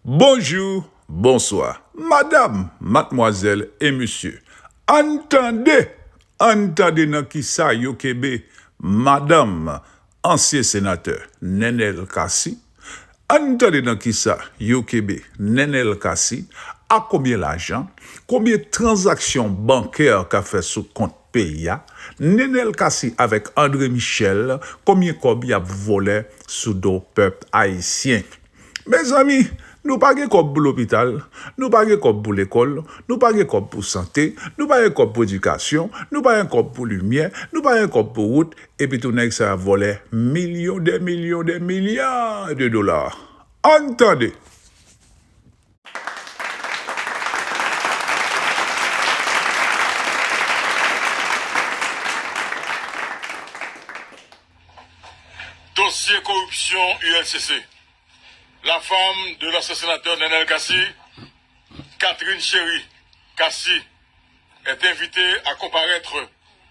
Bonjou, bonswa, madam, matmwazèl e mesye. Ann tande! Ann tande nan ki sa yo kenbe madanm ansyen senatè Nenel Cassy. Ann tande nan kisa yo kenbe Nenel Cassy, ak konbyen lajan, konbyen tranzaksyon bankè ka fè sou kont peyi a, Nenel Cassy avèk Andre Michel konbyen kòb yap vòlè sou do pèp ayisyen. Mezanmi nou pa gen kòb pou lopital, nou pa gen kòb pou lekòl, nou pa gen kòb pou sante, nou pa gen kòb pou edikasyon, nou pa gen kòb pou limyè, nou pa gen kòb pou wout, Epitou nèg sa a vòlè milyon dè milyon dè milya de dola. Ann tande! Dosye koripsyon ULCC, La fam de lansyen senatè Nenel Cassy, Catherine Chery Cassy, est invitée à comparaître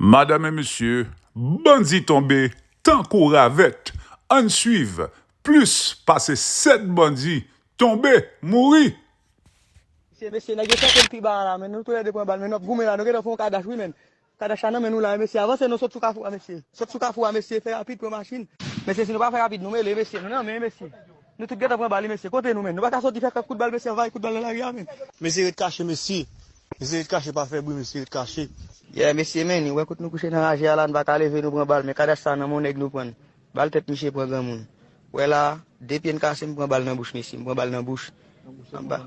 Madam et mesye bandi tonbe tankou ravèt ann swiv plis pase 7 bandi tonbe mouri. Mesye mesye nèg yo tenten pi ba a la men nou tou lè 2 pran bal men nou ap goumen la nou gentan fè yon kadash wi men kadash la nan men nou la wi mesye avanse non sot sou kafou a mesye sot sou kafou a mesye fè rapid pran machin mesye si nou pa fè rapid nou mele mesye nou nan men mesye. Nou tout gentan pran bali mesye kote nou menn nou paka soti fè kèk kout bal mesye anvayi kout bal nan lari a menn. Mesye ret kache mesye. Mesye ret kache pa fè bri mesye ret kache. Yeah mesye men nou wè kot nou kouche nan raje a la nou paka leve nou pran bal men kadash sa nan men yon nèg nou prann bal tèt misye pran granmoun wè la de pye n kase m pran bal nan bouch mesye m pran bal nan bouch anba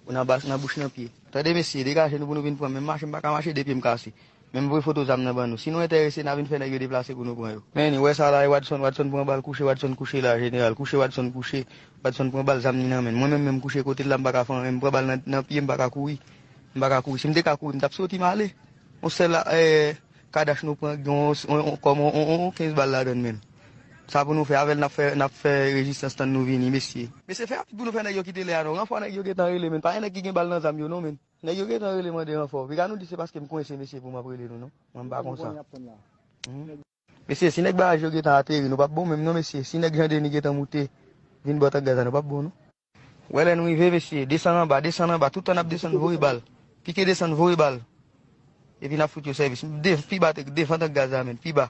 nan bouch nan pye tande mesye degaje nou pou nou vin pranm men m mache m paka mache de pye m kase. Menm vre foto zam nan ban nou. Si nou entèrese na vin fè nèg yo deplase pou nou pran yo. Men wè sa la e Wadson, Wadson pran bal kouche Wadson kouche la jeneral kouche Wadson kouche Wadson pran bal zam li nan menn mwen menm menm kouche kotel la m paka fè anyen m pran bal nan nan pyem paka kouri m paka kouri si m te ka kouri m tap soti male on sèl a èè kadach nou pran gen on on kòm on on on 15 bal ladann menn sa pou nou fè avèl nap fè nap fè rezistans tann nou vini mesye. Mesye fè rapid pou nou fè nèg yo kite lè a non ranfò nèg yo gentan rele menn pa gen nèg ki gen bal nan zam yo non menn. Nèg yo gentan rele mande ranfò. Vega nou di se paskem kwense mesye poum ap rele nou non. Mwen m pa konsa. Mesye si nèg baraj yo gentan ateri nou pap bon menm non mesye si nèg jandeni gentan moute vin bò tank gaz la nou pap bon non. Wè lè nou rive mesye desann anba desann anba toutan nap desann voye bal pike desann voye bal epi nap fout yo sèvis dev pi ba devan tank gaz la menm pi ba.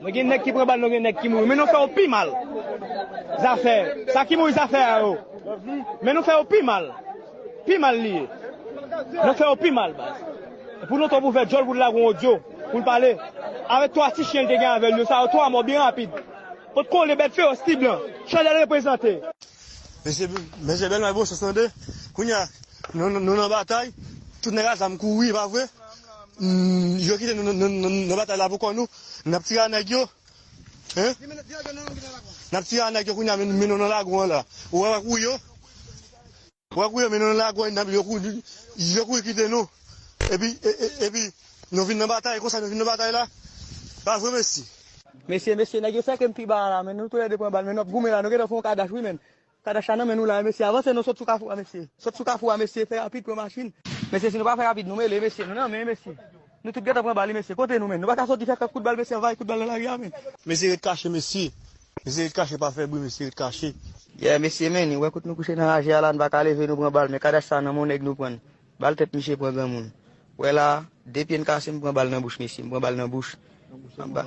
Mwen gen nèg ki pran bal non gen nèg ki mouri men nou fè yo pi mal zafè sa ki mouri zafè a yo men nou fè yo pi mal pi mal li ye nou fè yo pi mal baz pou nou twòp ouvè djòl pou nou lage yon odyo pou nou pale avèk 3 ti chyen li te gen avèl yo sa yo 3 mò byen rapid pot kole bèt fewòs ti blan chanèl reprezante. Mesye bèl may bon sans tande kounye a nou nan batay tout nèg a zam kouri pa vre yo kite nou nan batay la pou kò nou Nap tire a nèg yo hein. Nap tire a nèg yo kounya mennen yo nan lagon an la. Ou wè kou yo. Ou wè kou yo mennen yo nan lagon nap yo kou yo kouri kite nou. Epi epi nou vin nan batay konsa nou vin nan batay la. Pa vre mesi. Mesye mesye nèg yo sèke m pi ba a la men nou tou lè 2 pran bal men nap goumen la nou gentan fè yon kadash wi menn Tadacha nan men nou la wi mesye avanse non sot sou kafou a mesye sot sou kafou a mesye fè rapid pran machin. Mesye si nou pa fè rapid nou mele mesye nou nan men mesye nou tout gentan pran bal wi mesye kote nou menn nou paka soti fè kèk kout bal mesye anvayi kout bal nan lari a menn. Mesye ret kache mesye mesye ret kache pa fè bri mesye ret kache. Yeah mesye menn wè kot nou kouche nan raje a la nou paka leve nou pran bal men kadash sa nan men yon nèg nou prann Bal tèt misye pran granmoun. Wè la a, de pye n kase m pran bal nan bouch mesye, m pran bal nan bouch, anba,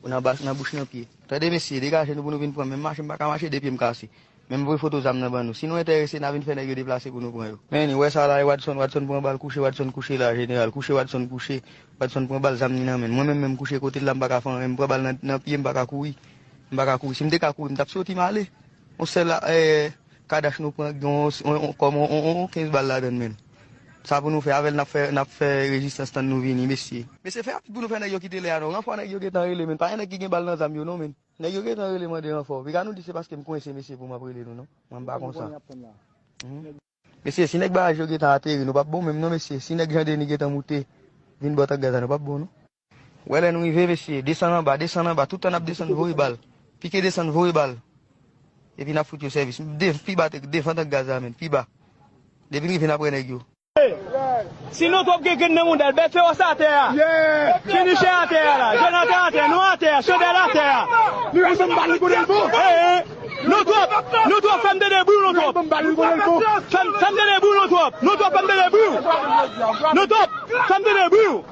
nan bas, nan bouch, nan pye. Tande mesye, degaje nou pou nou vin pran m, menm mache m pa ka mache, de pye m kase. Men m voye foto zam nan ban nou. Si nou enterese, n a vin fè nèg yo deplase pou nou pran yo. Men li, wè sa la e Wadson, Wadson pran bal, kouche Wadson kouche la a, jeneral, kouche Wadson kouche, Wadson pran bal, zam ni nan men l. Mwen menm, men m kouche kote l la, m pa ka fè anyen, m pran bal nan, nan pye, m pa ka kouri, m pa ka kouri. Si m te ka kouri, m t ap soti m ale. On sèl a, èè, Kadash nou pran gen yon kòm yon 15 bal ladann menn sa pou nou fè avèl nap fè nap fè rezistans tann nou vini mesye. Mesye fè rapid pou nou fè nèg yo kite lè a non ranfò nèg yo gentan rele menn pa gen nèg ki gen bal nan zam yo non menn nèg yo gentan rele mande ranfò piga nou di se paskem kwense mesye poum ap rele nou non mwen pa konsa. Mesye si nèg baraj yo gentan ateri nou pap bon menm non mesye si nèg Jean Denis gentan moute vin bò tank gaz la nou pap bon non. Wè lè n rive mesye, desann anba, desann anba, tout tan n ap desann voye bal, pike desann voye bal, epi n ap fout yo sèvis, dev, pi ba, devan tank gaz la menm, pi ba, depi n rive n ap wè nèg yo. Hey! Sino twòp gen grenn nan mouda l, bèt fewòs atè a, chenichè atè a la, Jonatan atè, nou atè a, chandèl atè a, hey! Nou twòp, nou twòp fè m tande bri w nou twòp, fè m tande bri w nou twòp, nou twòp fè m tande bri w, nou twòp fè m tande bri w.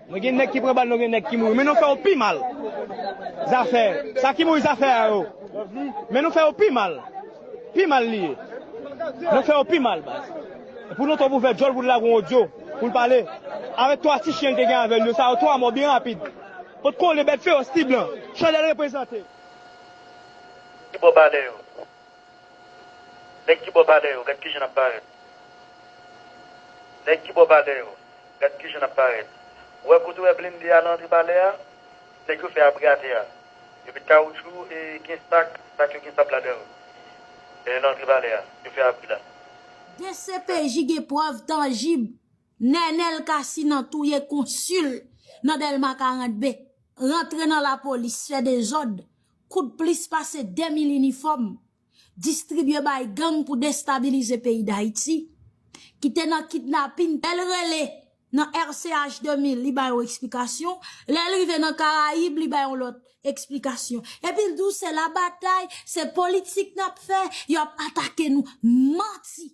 Mwen gen nèg ki pran bal non gen nèg ki mouri men nou fè yo pi mal zafè sa ki mouri zafè a yo men nou fè yo pi mal pi mal li ye nou fè yo pi mal baz pou nou twòp ouvè djòl pou nou lage yon odyo pou nou pale avèk 3 ti chyen li te gen avèl yo sa yo 3 mò byen rapid pot kole bèt fewòs ti blan chandèl reprezante. Ki bò palè yo? Nèg ki bò palè yo, gad kijan n ap parèt Nèg ki bò palè yo, gad kijan n ap parèt Ou wè kote w wè blende a nan antre palè a? Nèg yo fè abri atè a Yo met kawoutchou e gen sak, sak yo gen sab ladan yo Nan antre palè a, yo fè abri la. Dcpj gen prèv tanjib Nènèl Cassy nan touye konsil nan Dèlma 42, rantre nan lapolis fè dezòd Koud plis pase 2 mil inifòm distribye bay gang pou destabilize peyi Dayiti ki te nan kidnapin lè l rele nan RCH 2000 li bay yon eksplikasyon lè l rive nan Karayib li bay yon lòt eksplikasyon epi l di w se la batay se politik n ap fè y ap atake nou manti.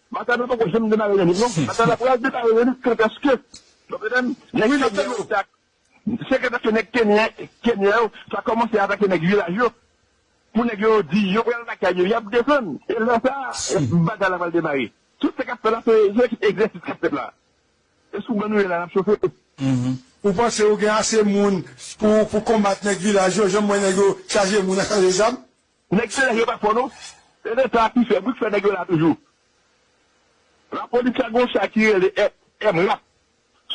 Makado poko janm demare yon liv non. Makado ap pral demare yon liv kantaske nou konnen nèg kenyan yo ta se kantaske nèg kenyen kenyan yo ta kòmanse atake nèg vilaj yo pou nèg yo di yo pral lakay yo yap desann e lè sa bagay la pral demare tout sa kap fèt la se se egzèsis kap fèt la e sou ban nou ye la nap chofe. Ou panse ou gen ase moun pou pou konbat nèg vilaj yo janm wè nèg yo chaje moun ak chaje zam Nèg selè yo pa fò non. Se leta a ki fè bri k fè nèg yo la toujou. Lapolis la gon sa ki rele MRAP.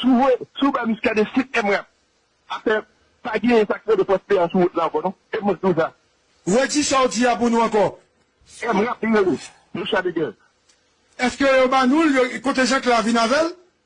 Si w voye, si w bay Muscadin sit MRAP, afè pa genyen sa k rele fòs peyant sou wout la ankò non. E mwen k di w sa. Redi sa w di a pou nou ankò. MRAP li rele, Muscadin gen l. Eske yo ba nou l, kote Jean Clair vin avè l?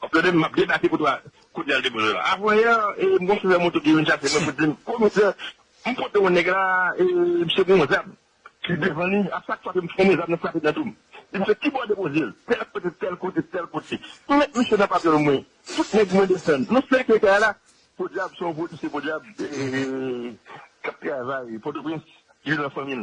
Anplèdèm map debake pou twa kout yal depoze la avanyè e m gon chofè moto ki vin chache mwen pou dim komisè m pote yon nèg la e misye gen yon zam ki devan li a chak fwa ke m fre men zam nan frape nan doum di misye kibò depozel tèl kote tèl kote tèl kote m met misye nan papyol mwen tout nèg mwen desann nou sèkle kay la podyab son polisye podyab kap travay pòtoprens ki vin nan fanmil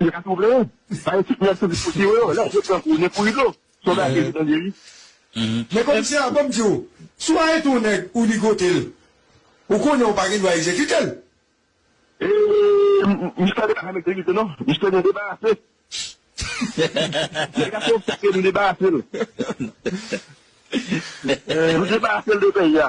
Teyat ou vle an? Bay tout nèg sou disposi yo yo, lè yo pran kou, nen kou rido. Son bagay ou tande wi. Men komisè a banm diw, si w arete yon nèg ou ligote l, ou konnen ou pa gen dwa egzekite l. Eee mistè de pa egzekite non, mistè gen debarase. Nèg a se obstak e nou debarase l. Nou debarase l de peyi a.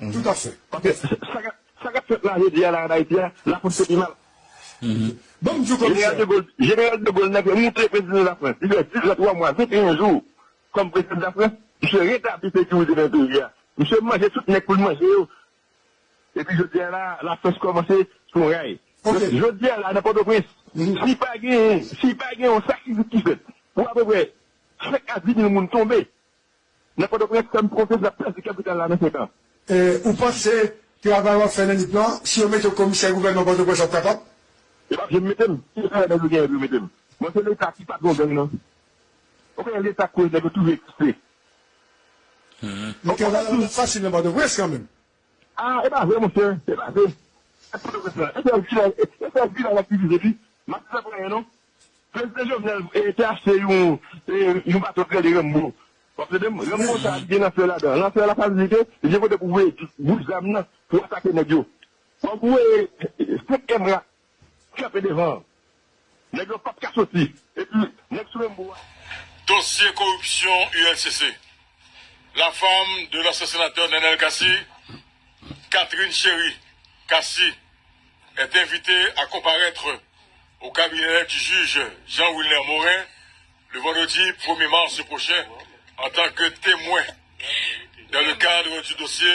Humm tout a fè. Ok sa kap fèt la jodi a la an Ayiti a la polis yo pi mal. Banm diw komisè. Jeneral de Gaulle nan te moute prezidan la France li fè 10 an 3 mwa 21 jou kòm prezidan la France misye retabli sekirite nan peyi a misye manje tout nèg poul manje yo epi jodi a la la France kòmanse sou ray jodi a la nan pòtoprens si pa gen si pa gen yon sakrifis ki fèt pou apeprè 5 a 10 mil moun tonbe Nan Pòtoprens, fèm pwofesè ap pèdi kapital la nan 5 an. Ou panse travay wap fè nan nip lan, si yo mete w komisè gouvènman Pòtoprens wap kapab? Yo pap janm mete m, ki lòt travay nèg yo genyen pou yo mete m? Bon se leta ki patron gang nan. Ou konnen leta k koz nèg yo toujou egziste. Mete w la la pap fasil nan Pòtoprens kanmenm. Ah epa vre monchè epa vre sak pral ret la epa vilaj epa vilaj ap divize pi map fè plenyen non prezidan jovenel te achte yon yon bato t rele renmbo wap tandem renmbo sa li gen lanfè ladan lanfè la sa vle di ke li gen kote pou voye bout zam nan pou atake nèg yo wap voye 5 emra Kanpe devan. Nèg yo pap ka soti. Epi nèg sou Rembo a. Dosye koripsyon ULCC, la fam de lansyen senatè Nenel Cassy, Catherine Chery Cassy est invitée à comparaître au cabinet du juge Jean Wilner Morin le vendredi premier mars prochain en tant que témoin dans le cadre du dossier